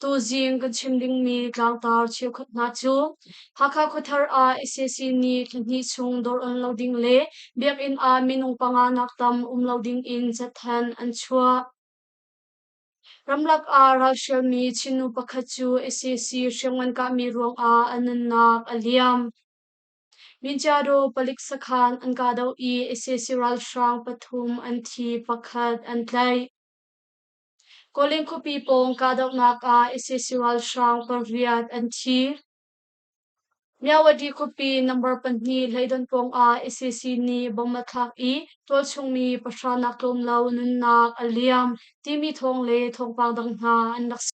Tuzing kan chim dingmi tlangtar cheukhat hna cu Hakha khuathar ah sac nih thla hnih chung dawr lo ding le biakinn ah minung panga nak tam um lo ding in catthan an chuah. Ramlak ah ralhrialmi Chinnu pakhat cu sac hriamngan kahmi ruangah a nunnak a liam. Minjado palik sakhan an kahdoh i sac ralhrang pathum an thi, pakhat an tlaih. Kawlin khuapi pawng kahdohnak ah ICC-ralhrang paruk pariat an thi. Myawati khuapi number pahnih hleidon pawng ah ICC nih bom a thlak i tualchungmi pahra nak tlawm lo nunnak a liam timi thawng le thawngpang dang hna an rak si.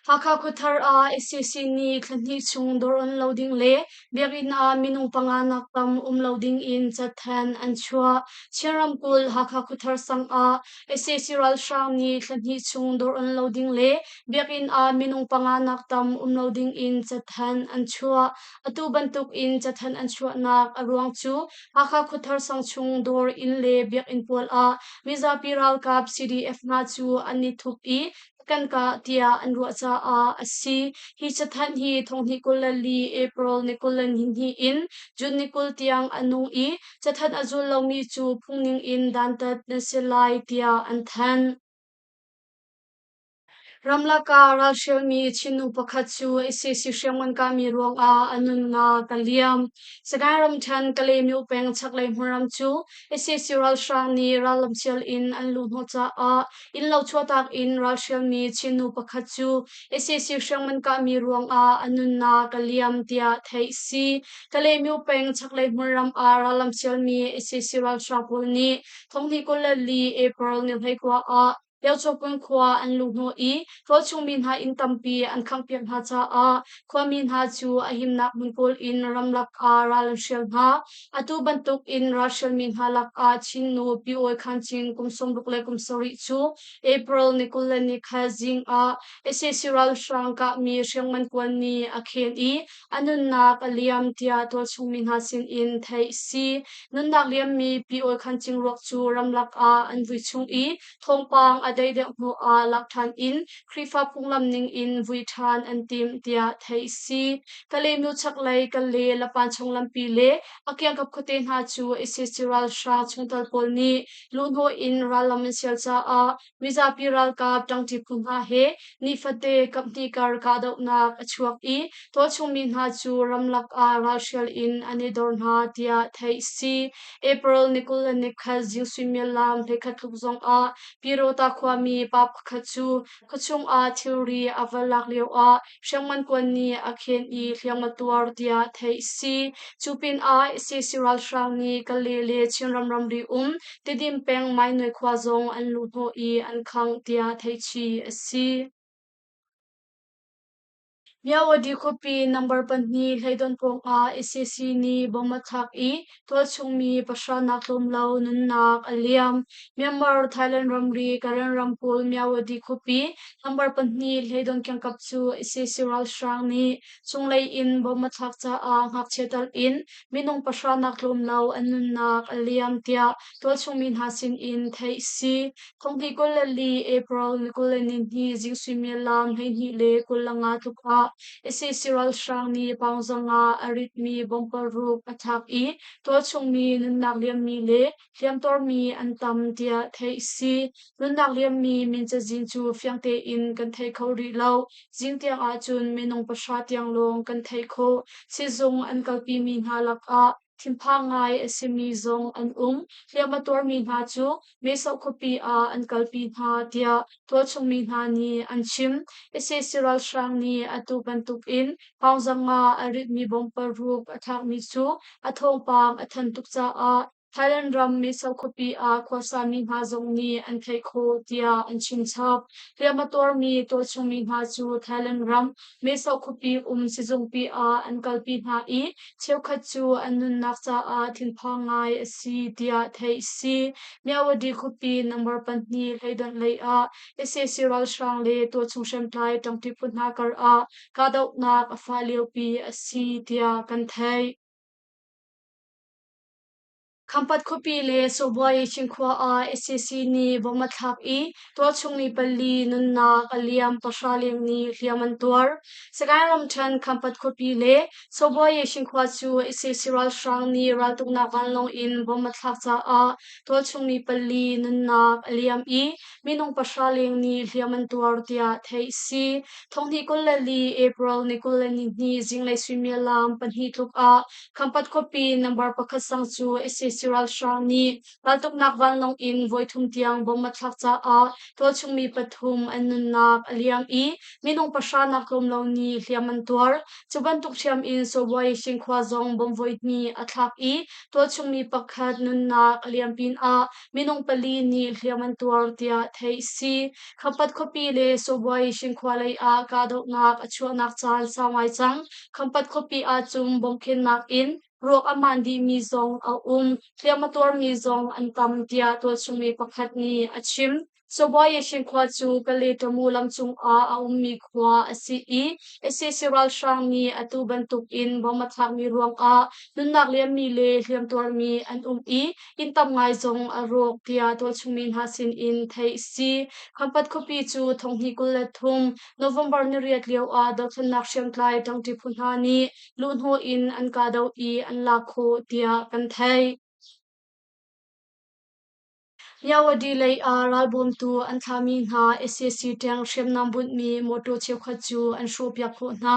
Hakha Khuathar ah sac nih thla hnih chung dawr on lo ding le biakinn ah minung panga nak tam um lo ding in catthan an chuah. Chin ramkulh Hakha Khuathar sang ah sac ralhrang nih thla hnih chung dawr on lo ding le biakinn ah minung panga nak tam um lo ding in catthan an chuah. Atu bantuk in catthan an chuahnak a ruang cu Hakha Khuathar sang chung dawr inn le biakinn pawl ah mizapi ralkap CDF hna cu an i thup i kan kah tiah an ruah caah a si. Hi cathanh hi thonghnih kul le li April ni kul le nihnih in June ni kul tiang a nung i cathanh a zul lomi cu phungning in dantat na si lai tiah an thanh. Ramlaka ralhrialmi Chinnu pakhat cu ICC hriangman kami ruangah a nunnak ka liam. Sagaing ramthen Kalaymyo peng chaklei hmuram cu ICC ralhrang nih rallam cial in an luh hnawh caah Innlo chuahtak in ralhrialmi Chinnu pakhat cu SAC hriangman kahmi ruangah a nunnak ka liam tiah theih a si. Kalaymyo peng chaklei hmunram ah rallam sialmi SAC ralhraang pawl nih thonghnih kul le li April ni hleikua ah Pyochawpun khua an luh hnawh i rawlchungmi hna inn tampi an khanghpiak hna caah khuami hna cu a himnak hmun kawl in ramlak ah ral an hrial hna. Atu bantuk in Russian mi hna lakah Chinnu Pi Awi Khan Chin kum sawmruk le kum sarih cu April ni kul le ni kha zing ah SAC ralhrang kahmi hriangman kuan ni a khen i a nunnak a liam tiah tualchung mi hna sin in theih si. Nunnak liammi Pi Awi Khan Chin ruak cu ramlak ah an vui chung i Thawngpang a dei deuh hnu ah lak ṭhan in Khrihfa phunglam ningin vui ṭhan an timh tiah theih a si. Ka lehnu chaklei ka le lapan chung lampi le a kiangkap khuate hna cu ISIS ralhrang chungtel pawl nih luhhnawh in rallam an sial caah mizapi ralkap ṭangṭi phu hna he Nifate kamhti kar kahdohnak a chuak i tualchungmi hna cu ramlak ah ralhrial in an i dor hna tiah theih a si. April ni kul le ni khat zing suimilam hleikhat tluk zongah Pirota khuami pa pakhat cu khuachung ah thilri a va lak lio ah hriangman kuan nih a khen i hliam a tuar tiah theih a si. Cu pinah ICC ralhrang nih Kale le Chinram ramri um Tedim peng Mainoi khua zong an lu hnawh i an khangh tiah theihchih a si. Myawaddy khuapi number pahnih hleidon pawngah ICC nih bom a thlak i tualchungmi pahra nak tlawm lo nunnak a liam. Myanmar Thailand ramri Karen ramkulh Myawaddy khuapi number pahnih hleidon kiangkap cu ICC ralhrang nih chunglei in bom a thlak caah ngakchia talh in Minung pahra nak tlawm lo an nunnak a liam tiah tualchungmi hna sinin theih a si. Thong hnih kul le li April ni kul le ni hnih zing suimial lam hleihnih le kul le nga tluk ah ISIS ralhrang nih paung zong ah a ritmi bomb paruk a thak i tualchungmi nunnak liammi le hliamtuarmi an tam tiah theih si. Nunnak liammi min cazin cu fiang tein kan thei kho rih lo. Zing tiang ahcun minung pahra tiang lawng kan thei khawh. Sizung an kalpimi hna lakah thinpha ngai a simi zong an um. Hliam a tuarmi hna cu Meso khuapi ah an kalpi hna tiah tualchungmi hna nih an chim. Sac ralhrang nih atu bantuk in Hngawngzam nga a ritmi bongpal ruk a ṭhakmi cu a thawngpang a thanh tuk caah Thailand ram Meso khuapi ah khuasami hna zong nih an theih khawh tiah an chim chap. Hliam a tuarmi tualchungmi hna cu Thailand ram Meso khuapi um sizungpi ah an kalpi hna i cheukhat cu an nunnak caah thinphang ngai a si tiah theih a si. Myawadi khuapi number pahnih hleidawnh lei ah sac ralhrang le tualchung hriamtlai ṭangṭi put hna kar ah kahdohnak a fa liopi a si tiah kan theih. Khampat khuapi le Sawbuai Cinkhua ah SCC nih vom a thlak i tualchung ni pali nunnak a liam pahra leng ni hliam an tuar. Sagaing ramṭhen Khampat khuapi le Sawbuai Cinkhua cu SCC ralhrang nih raltuknak vanlawng in vom a thlak caah tualchung ni pali nunnak a liam i minung pahra leng nih hliam an tuar tiah theih a si. Thonghni kul le li April ni kul le nihnih zinglei suimilam pahnih tluk ah Khampat khuapi nambar pakhat sang cu SAC ralhrang nih raltuknak vanlawng in voithum tiang bom a thlak caah tualchungmi pathum an nunnak a liam i minung pahra naklawm lo nih hliam an tuar. Cu bantuk hriam in Sawbai Shinkhua zong bom voihnih a thlak i tualchungmi pakhat nunnak a liam pinah Minung pali nih hliam an tuar tiah theih a si. Khampat khuapi le Sawbuai Cinkhua lei ah kahdohnak a chuahnak caan sau ngai cang. Khampat khuapi ahcun bawmhkhennak in ruak a man dihmi zong a um. Hliam a tuarmi zong an tam, tiah tualchungmi pakhat nih a chim. Cabuayeshi khua cu Kaletomu lam cungah a ummi khua a si i ISIS ralhrang nih atu bantukin bom a thlakmi ruangah nunnak liammi le hliamtuarmi an um i inn tam ngai zong a rawk tiah tualchungmi hna sinin theih a si. Khampat khuapi cu thong hnih kul le thum November niriat lioah dothlennak hriamtlai ṭangṭi phu hna nih luhhnawh in an kahdoh i an lak khawh tiah kan theih. Nyawadi lei ah ralbawmtu an thlahmi hna sac ṭeng hriamnam bunhmi mawṭaw cheukhat cu an hrawhpiak khawh hna.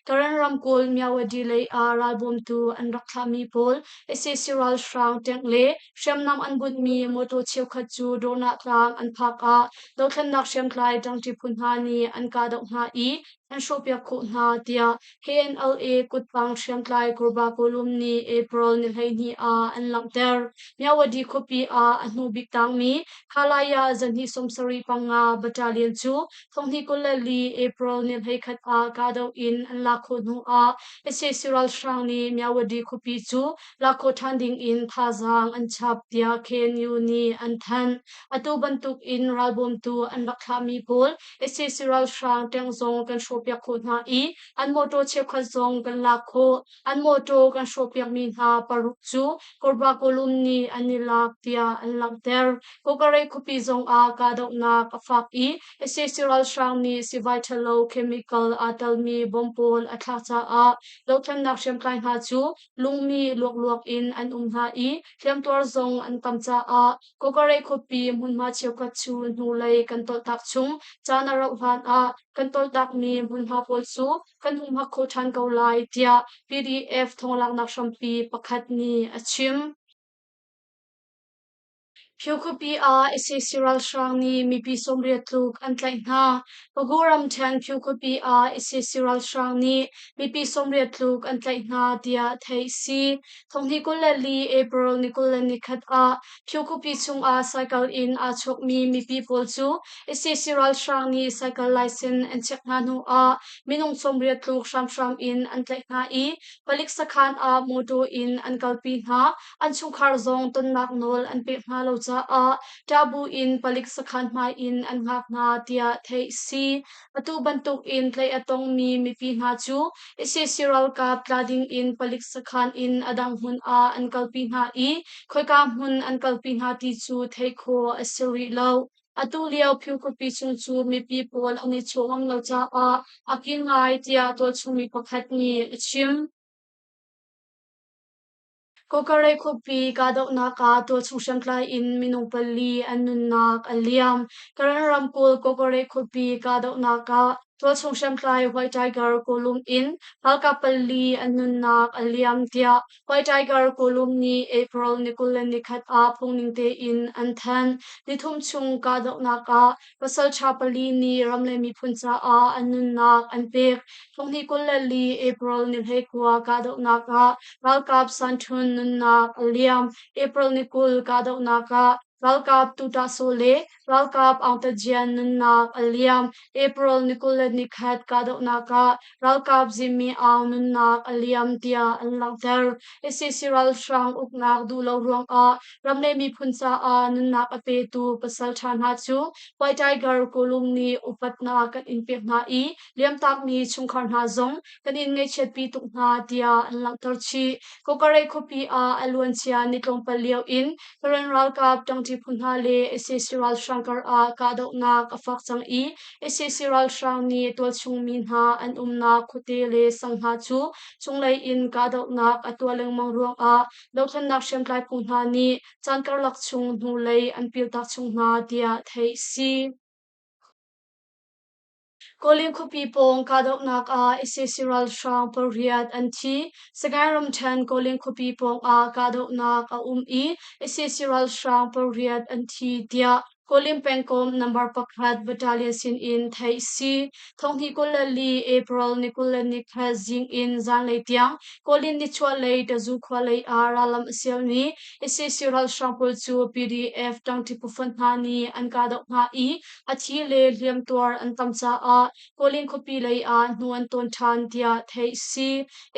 Karen ramkulh Myawadi lei ah ralbawmtu an rak thlahmi pawl sac ralhrang ṭeng le hriamnam an bunhmi mawṭaw cheukhat cu Dornah tlang an phak ah dothlennak hriamtlai ṭangṭi phu hna nih an kahdoh hna i an hrawhpiak khawh hna tiah KNLA kutpang hriamtlai Kurbakawlum nih April ni hleihnih ah an langhter. Myawadi khuapi ah a hnubik tangmi Khalaya zanhnih sawmsarih panga battalion cu thonghnih kul le li April ni hleikhat ah kahdoh in an lak khawh hnu ah sac ralhrang nih Myawadi khuapi cu lak khawh ṭhan ding in thazaang an chap tiah KNU nih an thanh. Atu bantuk in ralbawmtu an rak thlahmi pawl sac ralhrang tank zong kan hrawhpiak khawh hna i an mawtaw cheukhat zong kan lak khawh an mawtaw kan hrawhpiakmi hna paruk cu korba kawlum nih an i lak tiah an langhter kokarei khuapi zong ah kahdohnak a fak i sac ralhrang nih sivai ṭhalo chemical aa telmi bom pawl a thlah caah dothlennak hriamtlai hna cu lungmi luokluok in an um hna i hliamtuar zong an tam caah Kokare khuapi hmunhma cheukhat cu hnulei kan tawlhtak chung caan a rauh hlan ah kan tawlhtakmi hmunhma pawl cu kan hung hak kho ṭhan ko lai tiah PDF thawnglanghnak hrampi pakhat nih a chim. Phio khuapi ah ICC ralhrang nih mipi sawmriat tluk an tlaih hna. Pago ramṭhen Phio khuapi ah ICC ralhrang nih mipi sawmriat tluk an tlaih hna tiah theih a si. Thawngnih kul le li April ni kul le ni khat ah Phyukhupi chungah cycle in aa chuakmi mipi pawl cu ICC ralhrang nih cycle license an chiah hna hnu ah minung sawmriat tluk hramhram in an tlaih hna i palik sakhan ah motor in an kalpi hna. An chungkhar zong tonnak nawl an pek hna lo caah taboo in palik sakhan hmai in an hngak hna tiah theih a si. Atu bantukin tlaih a tongmi mipi hna cu ICC ralkap tla dingin palik sakhan in a dang hmun ah an kalpi hna i khoika hmun an kalpi hna ti cu theih khawh a si rih lo. Atu lio philkupi chung cu mipi pawl an i chaw ngam lo caah a kin ngai tiah tualchungmi pakhat nih a chim. Kawkarei khuapi kahdohnak ah tualchung hriamtlai in minung pali an nunnak a liam. Karen ramkulh Kawkarei khuapi kahdohnak ah tualchung hriamtlai White Tiger kulum in ralkap pali an nunnak a liam tiah White Tiger kulum nih April ni kul le ni khat ah phungning tein an thanh. Nithum chung kahdohnak ah Pasalṭha pali nih ram le miphun caah an nunnak an pek. Hnunghnih kul le li April ni hleikua kahdohnak ah ralkap sanṭhun nunnak a liam. April ni kul kahdohnak ah ralkap Tutahso le ralkap Angtajian nunnak a liam. April ni kul le ni khat kahdohnak ah ralkap zimmi au nunnak a liam tiah an langhter. ISIS ralhrang uknak duh lo ruangah ram le miphun caah nunnak a petu pasal ṭha hna cu White Tiger kulum nih upatnak kan in pek hna i liamtakmi chungkhar hna zong kan in ngaihchiatpi tuk hna tiah an langhter chih. Kokareh khuapi ah a luancia ni tlawmpal lio in Karen ralkap ṭangṭi phu hna le ISIS ralhrang karah kahdohnak a fak cang i Sac ralhrang nih tualchungmi hna an umnak khuate le sang hna cu chunglei in kahdohnak a tuah lengmang ruangah dohthlennak hriamtlai phu hna nih caan karlak chung hnulei an piltak chung hna tiah theih a si. Kawlin khuapi pawng kahdohnak ah sac ralhrang pariat an thi. Sagaing ramṭhen Kawlin khuapi pawng ah kahdohnak a um i sac ralhrang pariat an thi tiah Kawlin pengkomh number pakhat battalion sin in theih si thonghnih kul le li April ni kul le ni khat zing in zanlei tiang Kawlin nichuahlei Tazu khua lei ah rallam a sial mi ICC ralhrang pawl cu PDF tangti pufun hna nih an kahdoh hna i a thi le hliamtuar an tam caah Kawlin khuapi lei ah hnu an tawn ṭhan tiah theih a si.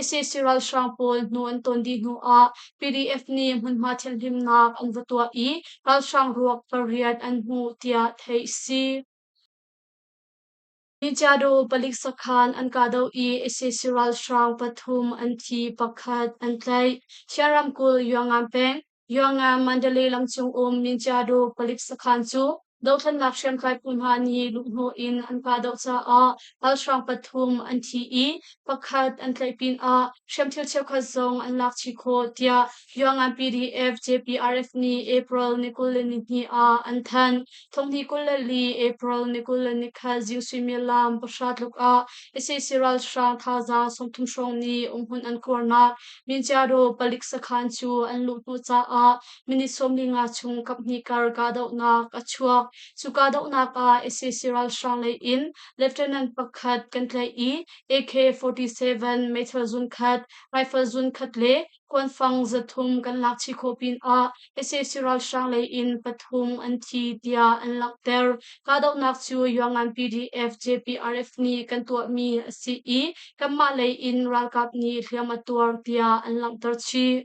ISIS ralhrang pawl hnu an tawn dih hnu ah PDF nih hmunhma thianhlimnak an va tuah i ralhrang ruak pariat an hmuh tiah theih a si. Nichiado palik sakhan an kahdoh i ISIS ralhrang pathum an thi, pakhat an tlaih. Thian ramkulh Yuangan peng Yanga Mandalay lam chung um Minchiado palik sakhan cu dothlannak hriamtlai phu hna nih luhhnawh in an kahdoh caah ralhrang pathum an thi i pakhat an tlaih pinah hriamthil cheukhat zong an lak chih khawh tiah Yanga PDF JPRF nih April ni kul le ni hnih ah an thanh. Thongli kul le li April ni kul le ni khat zing suimilam pahra tluk ah ICC ralhrang thazaang sawmthum hrawng nih umhmun an kuarnak Minchiado palik sakhan cu an luh hnu caah minit sawmli nga chung kaphnih kar kahdohnak a chuak. Cu kahdohnak ah ICC ralhrang lei in Lieutenant pakhat kan tlaih i AK-47 meithal zunkhat, rifle zunkhat le Kuanfang zathum kan lakchih khawh pinah sac ralhrang lei in pathum an thi tiah an langhter. Kahdohnak cu Yuangan PDF JPRF nih kan tuahmi a si i kanmah lei in ralkap nih hliam a tuar tiah an langhter chih.